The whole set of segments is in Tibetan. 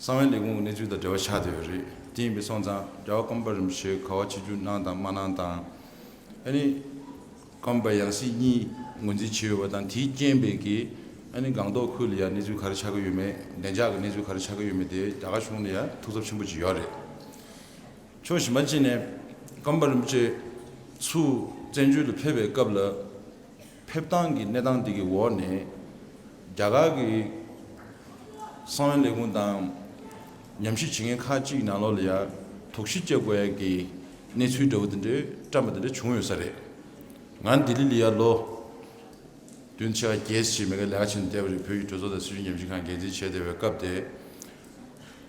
གསང་བའི་ལས་ཁུངས་ཀྱི་གནས་ཚུལ་དང་འབྲེལ་བ་ཆགས་བསྡད་པ་རེད། དེ་ཡིན་པའི་སོང་ཙང་རྒྱ་བ་ཀམ་པ་རིན་པོ་ཆེའི་ག་བ་ཆིག་ཆུ་གནང་དང་མ་གནང་དང། ཨ་ནི། ཀམ་པ་ཡང་སྲིད་གཉིས་ངོས་འཛིན་བྱས་ཡོད་པ་དང་དེའི་རྐྱེན་པས་ཀི་ཨ་ནི་སྒང་ཏོག་ཁུལ་ལ་ཡང་གནས་ཚུལ་ག་རེ་ཆགས་ཀྱི་ཡོད་མེད་བདེ་འཇགས་ཀྱི་གནས་ཚུལ་ག་རེ་ཆགས་ཀྱི་ཡོད་མེད་དེ་རྒྱ་གར་གཞུང་ལ་ཡང་ཐུགས་འཚབ་ཆེན་པོ་བྱས་ཡོད་རེད། ཕྱོགས་གཞན་པ་ཅིག་ནས་ཀམ་པ་རིན་པོ་ཆེ་ཚུ་བཙན་བྱོལ་དུ་ཕེབས་པའི་སྐབས་ལ། ཕེབས་སྟངས་ཀྱི་གནས་སྟངས་དེ་གི་འོག་ནས་རྒྱ་གར་གྱི་གསང་བའི་ལས་ཁུངས་དང་ཉམས་ཞིབ་བྱེད་མཁན་ཁག་ཅིག་ནང་ལོགས་ལ་ཡ་དོག་གཞི་བཅས་དགོས་ཡ་གི་གནས་ཚུལ་འདྲ་བོ་དེ་འདྲ་བཀྲམས་པ་དེ་འདྲ་བྱུང་ཡོད་ས་རེད། ང་ལྡི་ལི་ལ་ཡ་ལོ་བདུན་ཕྱེད་ཀ་བརྒྱད་ཟིན་བྱས་མེད་ཀ་ལས་ཀ་བྱེད་ནས་བསྡད་པ་རེད་བོད་ཀྱི་གྲོས་ཚོགས་དང་སྲིད་གཞུང་ཉམས་ཞིབ་ཁང་འགན་འཛིན་བྱས་བསྡད་པའི་སྐབས་དེ་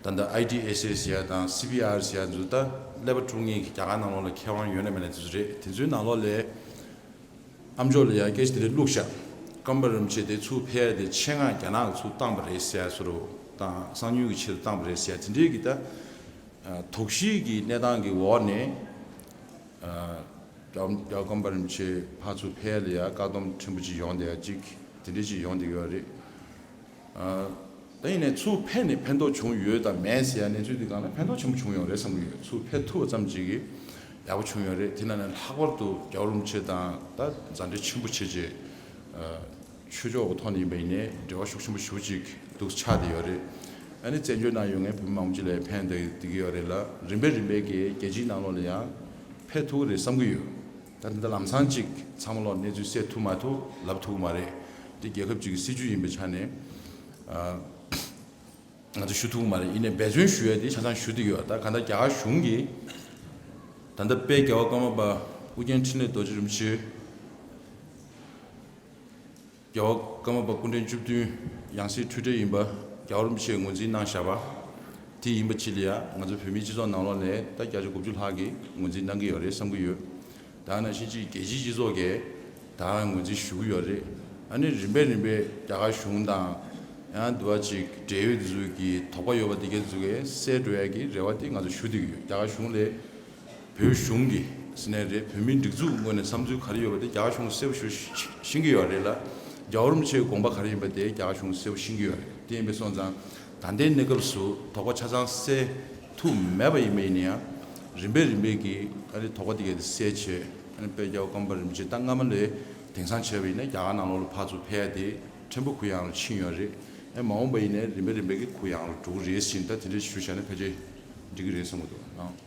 ད་ལྟ IDSS ཡ་དང CPRC ཡ་འཛུལ་སྟབས་ཀླད་པ་དཀྲུག་ངེས་ཀྱི་རྒྱ་གར་ནང་ལོགས་ལ་མཁས་དབང་ཡོད་ན་མེད་ན་དེ་ཚོ་རེད་དེ་ཚོའི་ནང་ལོགས་ལས། ཨ་མཆོག་ལ་ཡར་སྐད་ཞིག་རེ་བླུགས་ཤག། སྐམ་པ་རིམ་བྱེད་དེ་ཚུར་ཕེབས་ཏེ་ཆེད་མངགས་རྒྱ་ནག་གི་ཚུར་བཏང་པ་རེད་ཟེར་ཚུར་བཏང་གསང་ཉུལ་གྱི་ཆེད་དུ་བཏང་པ་རེད་ཟེར་དེ་འདྲའི་གི་ད་དོགས་གཞི་གི་གནས་སྟངས་ཀྱི་འོག་ནས་སྐམ་པ་རིམ་བྱེད་ཕ་ཚུར་ཕེབས་ལ་ཡར་བཀག་སྡོམ་ཕྲན་བུ་ཅིག་ཡོང་བསྡད་ཅིག་དེ་འདྲའི་ཅིག་ཡོང་བསྡད་ཡོད་རེད། ད་ཡིན་ནའི་ཚུར་ཕན་ནས་ཕན་ཐོགས་བྱུང་ཡོད་དམ་མེད་ཟེར་ཡ་གནས་ཚུལ་འདི་གང་ལ་ཕན་ཐོགས་ཆེན་པོ་བྱུང་ཡོང་རེད་བསམ་གྱི་ཡོད་ཚུར་ཕན་ཐུབ་པ་ཙམ་ཅིག་གིས་ཡག་པོ་བྱུང་ཡོང་རེད་དེ་ན་ནས་ལྷག་པར་དུ་རྒྱ་བོ་རུམ་ཆེ་དང་ད་མཛའ་འབྲེལ་ཆེན་པོ་བྱེད་ཅེས་ཆོས་ཕྱོགས་གི་ཐོག་ནས་ཡིན་པ་ཡིན་ནའི་འབྲེལ་བ་ཤུགས་ཆེན་པོ་ཞུ་ཅིག་འདུག་ཆགས་བསྡད་ཡོད་རེད་ཨ་ནི་བཙན་བྱོལ་ནང་ཡོད་ངའི་བོད་མི་མང་པོ་ཅིག་ལ་ཕན་བསྡད་ཀྱི་ཡོད་རེད་ལ་རིམ་པས་རིམ་པས་ཀྱིས་རྒྱལ་སྤྱིའི་ནང་ལོགས་ལ་ཡང་ཕན་ཐུག་གི་རེད་བསམ་གྱི་ཡོད། ད་དེ་འདྲ་ལམ་སང་ཅིག་ཚང་མ་ལོག་གནས་ཚུལ་གསལ་ཐུབ་མ་ཐུབ་ལབ་ཐུབ་གི་མ་རེད། འདི་རྒྱལ་ཁབ་ཅིག་གི་སྲིད་བྱུས་ཡིན་པའི་ཆ་ནས་ང་ཚོ་ཞུ་ཐུབ་གི་མ་རེད་ཡིན་ནས་འབད་བརྩོན་ཞུ་ཡ་དེ་ཆ་ཚང་ཞུ་དེ་ཡོད་ད་ག་ད་རྒྱ་གར་གཞུང་གི་ད་ལྟ་དཔལ་རྒྱལ་བ་ཀརྨ་པ་ཨུ་རྒྱན་འཕྲིན་ལས་རྡོ་རྗེ་རིན་པོ་ཆེ། རྒྱལ་བ་ཀརྨ་པ་སྐུ་འཕྲེང་བཅུ་བདུན་ཡང་སྲིད་འཁྲུལ་བྲལ་ཡིན་པ་རྒྱ་གར་མི་ཆེས་ངོས་འཛིན་གནང་བཞག་པ་དེ་ཡིན་པ་ཅི་ལ་ཡ་ང་ཚོ་བོད་མིའི་སྤྱི་ཚོགས་ནང་ལོག་ནས་ད་བརྒྱ་ཆ་དགུ་བཅུ་ལྷག་གིས་ངོས་འཛིན་གནང་གི་ཡོད་རེད་བསམ་གྱི་ཡོད་དྭ་ན་ཕྱིན་ཅི་རྒྱལ་སྤྱིའི་སྤྱི་ཚོགས་ཀས་ད་ངོས་འཛིན་ཞུ་གི་ཡོད་རེད་ཨ་ནི་རིམ་པས་རིམ་པས་རྒྱ་གར་གཞུང་དང་ཡང་དུ་བ་ཅིག་འབྲེལ་ཡོད་འཛུགས་ཀྱི་དོགས་པ་ཡོད་པ་དེ་གས་འཛུགས་གས་སའི་འགྲོ་ཡ་གི་རེ་བ་དེ་ང་ཚོ་ཞུ་འདོད་ཀྱི་ཡོད་རྒྱ་གར་གཞུང་ལས། བོད་གཞུང་གི་ཟེར་ནས་རེད་བོད་མིའི་སྒྲིག་འཛུགས་ངོས་ནས་བསམ་ཚུལ་ག་རེ་ཡོད་པ་དེ་རྒྱ་གཞུང་གསལ་པོ་ཞུ་བཞིན་གྱི་ཡོད་རེད་ལ་རྒྱ་བོར་མི་ཚོའི་དགོངས་པ་ག་རེ་ཡིན་པ་དེ་རྒྱ་གཞུང་གསལ་པོ་བཞིན་གྱི་ཡོད་རེད་དེ་ཡིན་པས་སོང་ཙང་ད་ལྟའི་གནས་སྐབས་སུ་དོགས་པ་ཆ་ཚང་བསལ་ཐུབ་མེད་པ་ཡིན་པ་ཡིན་ན་ཡང་རིམ་པས་རིམ་པས་ཀྱིས་ཨ་རིའི་དོགས་པ་དེ་ག་དེ་སེལ་ཆེད་ཨ་རིའི་དཔལ་རྒྱ་བོ་སྐམ་པ་རིན་པོ་ཆེ་ད་སྔ་མ་ལས་དེང་སང་བྱས་པ་ཡིན་ན་རྒྱ་གར་ནང་ལོགས་ལ་ཕར་ཚུར་ཕེ་ཡ་དེ་ཕྲན་བུ་གུ་ཡངས་ལ་ཕྱིན་ཡོད་རེད་ཨེ་མ་འོངས་པ་ཡིན་ནས་རིམ་པས་རིམ་པས་ཀྱིས་གུ་ཡངས་ལ་འགྲོ་གི་རེད་བཞིན་ད་དེ་འདྲ་ཞུ་བཞག་ན་ཕལ་ཆེར་འགྲིག་གི་རེད་བསམ་གྱི་འདུག་ཨང།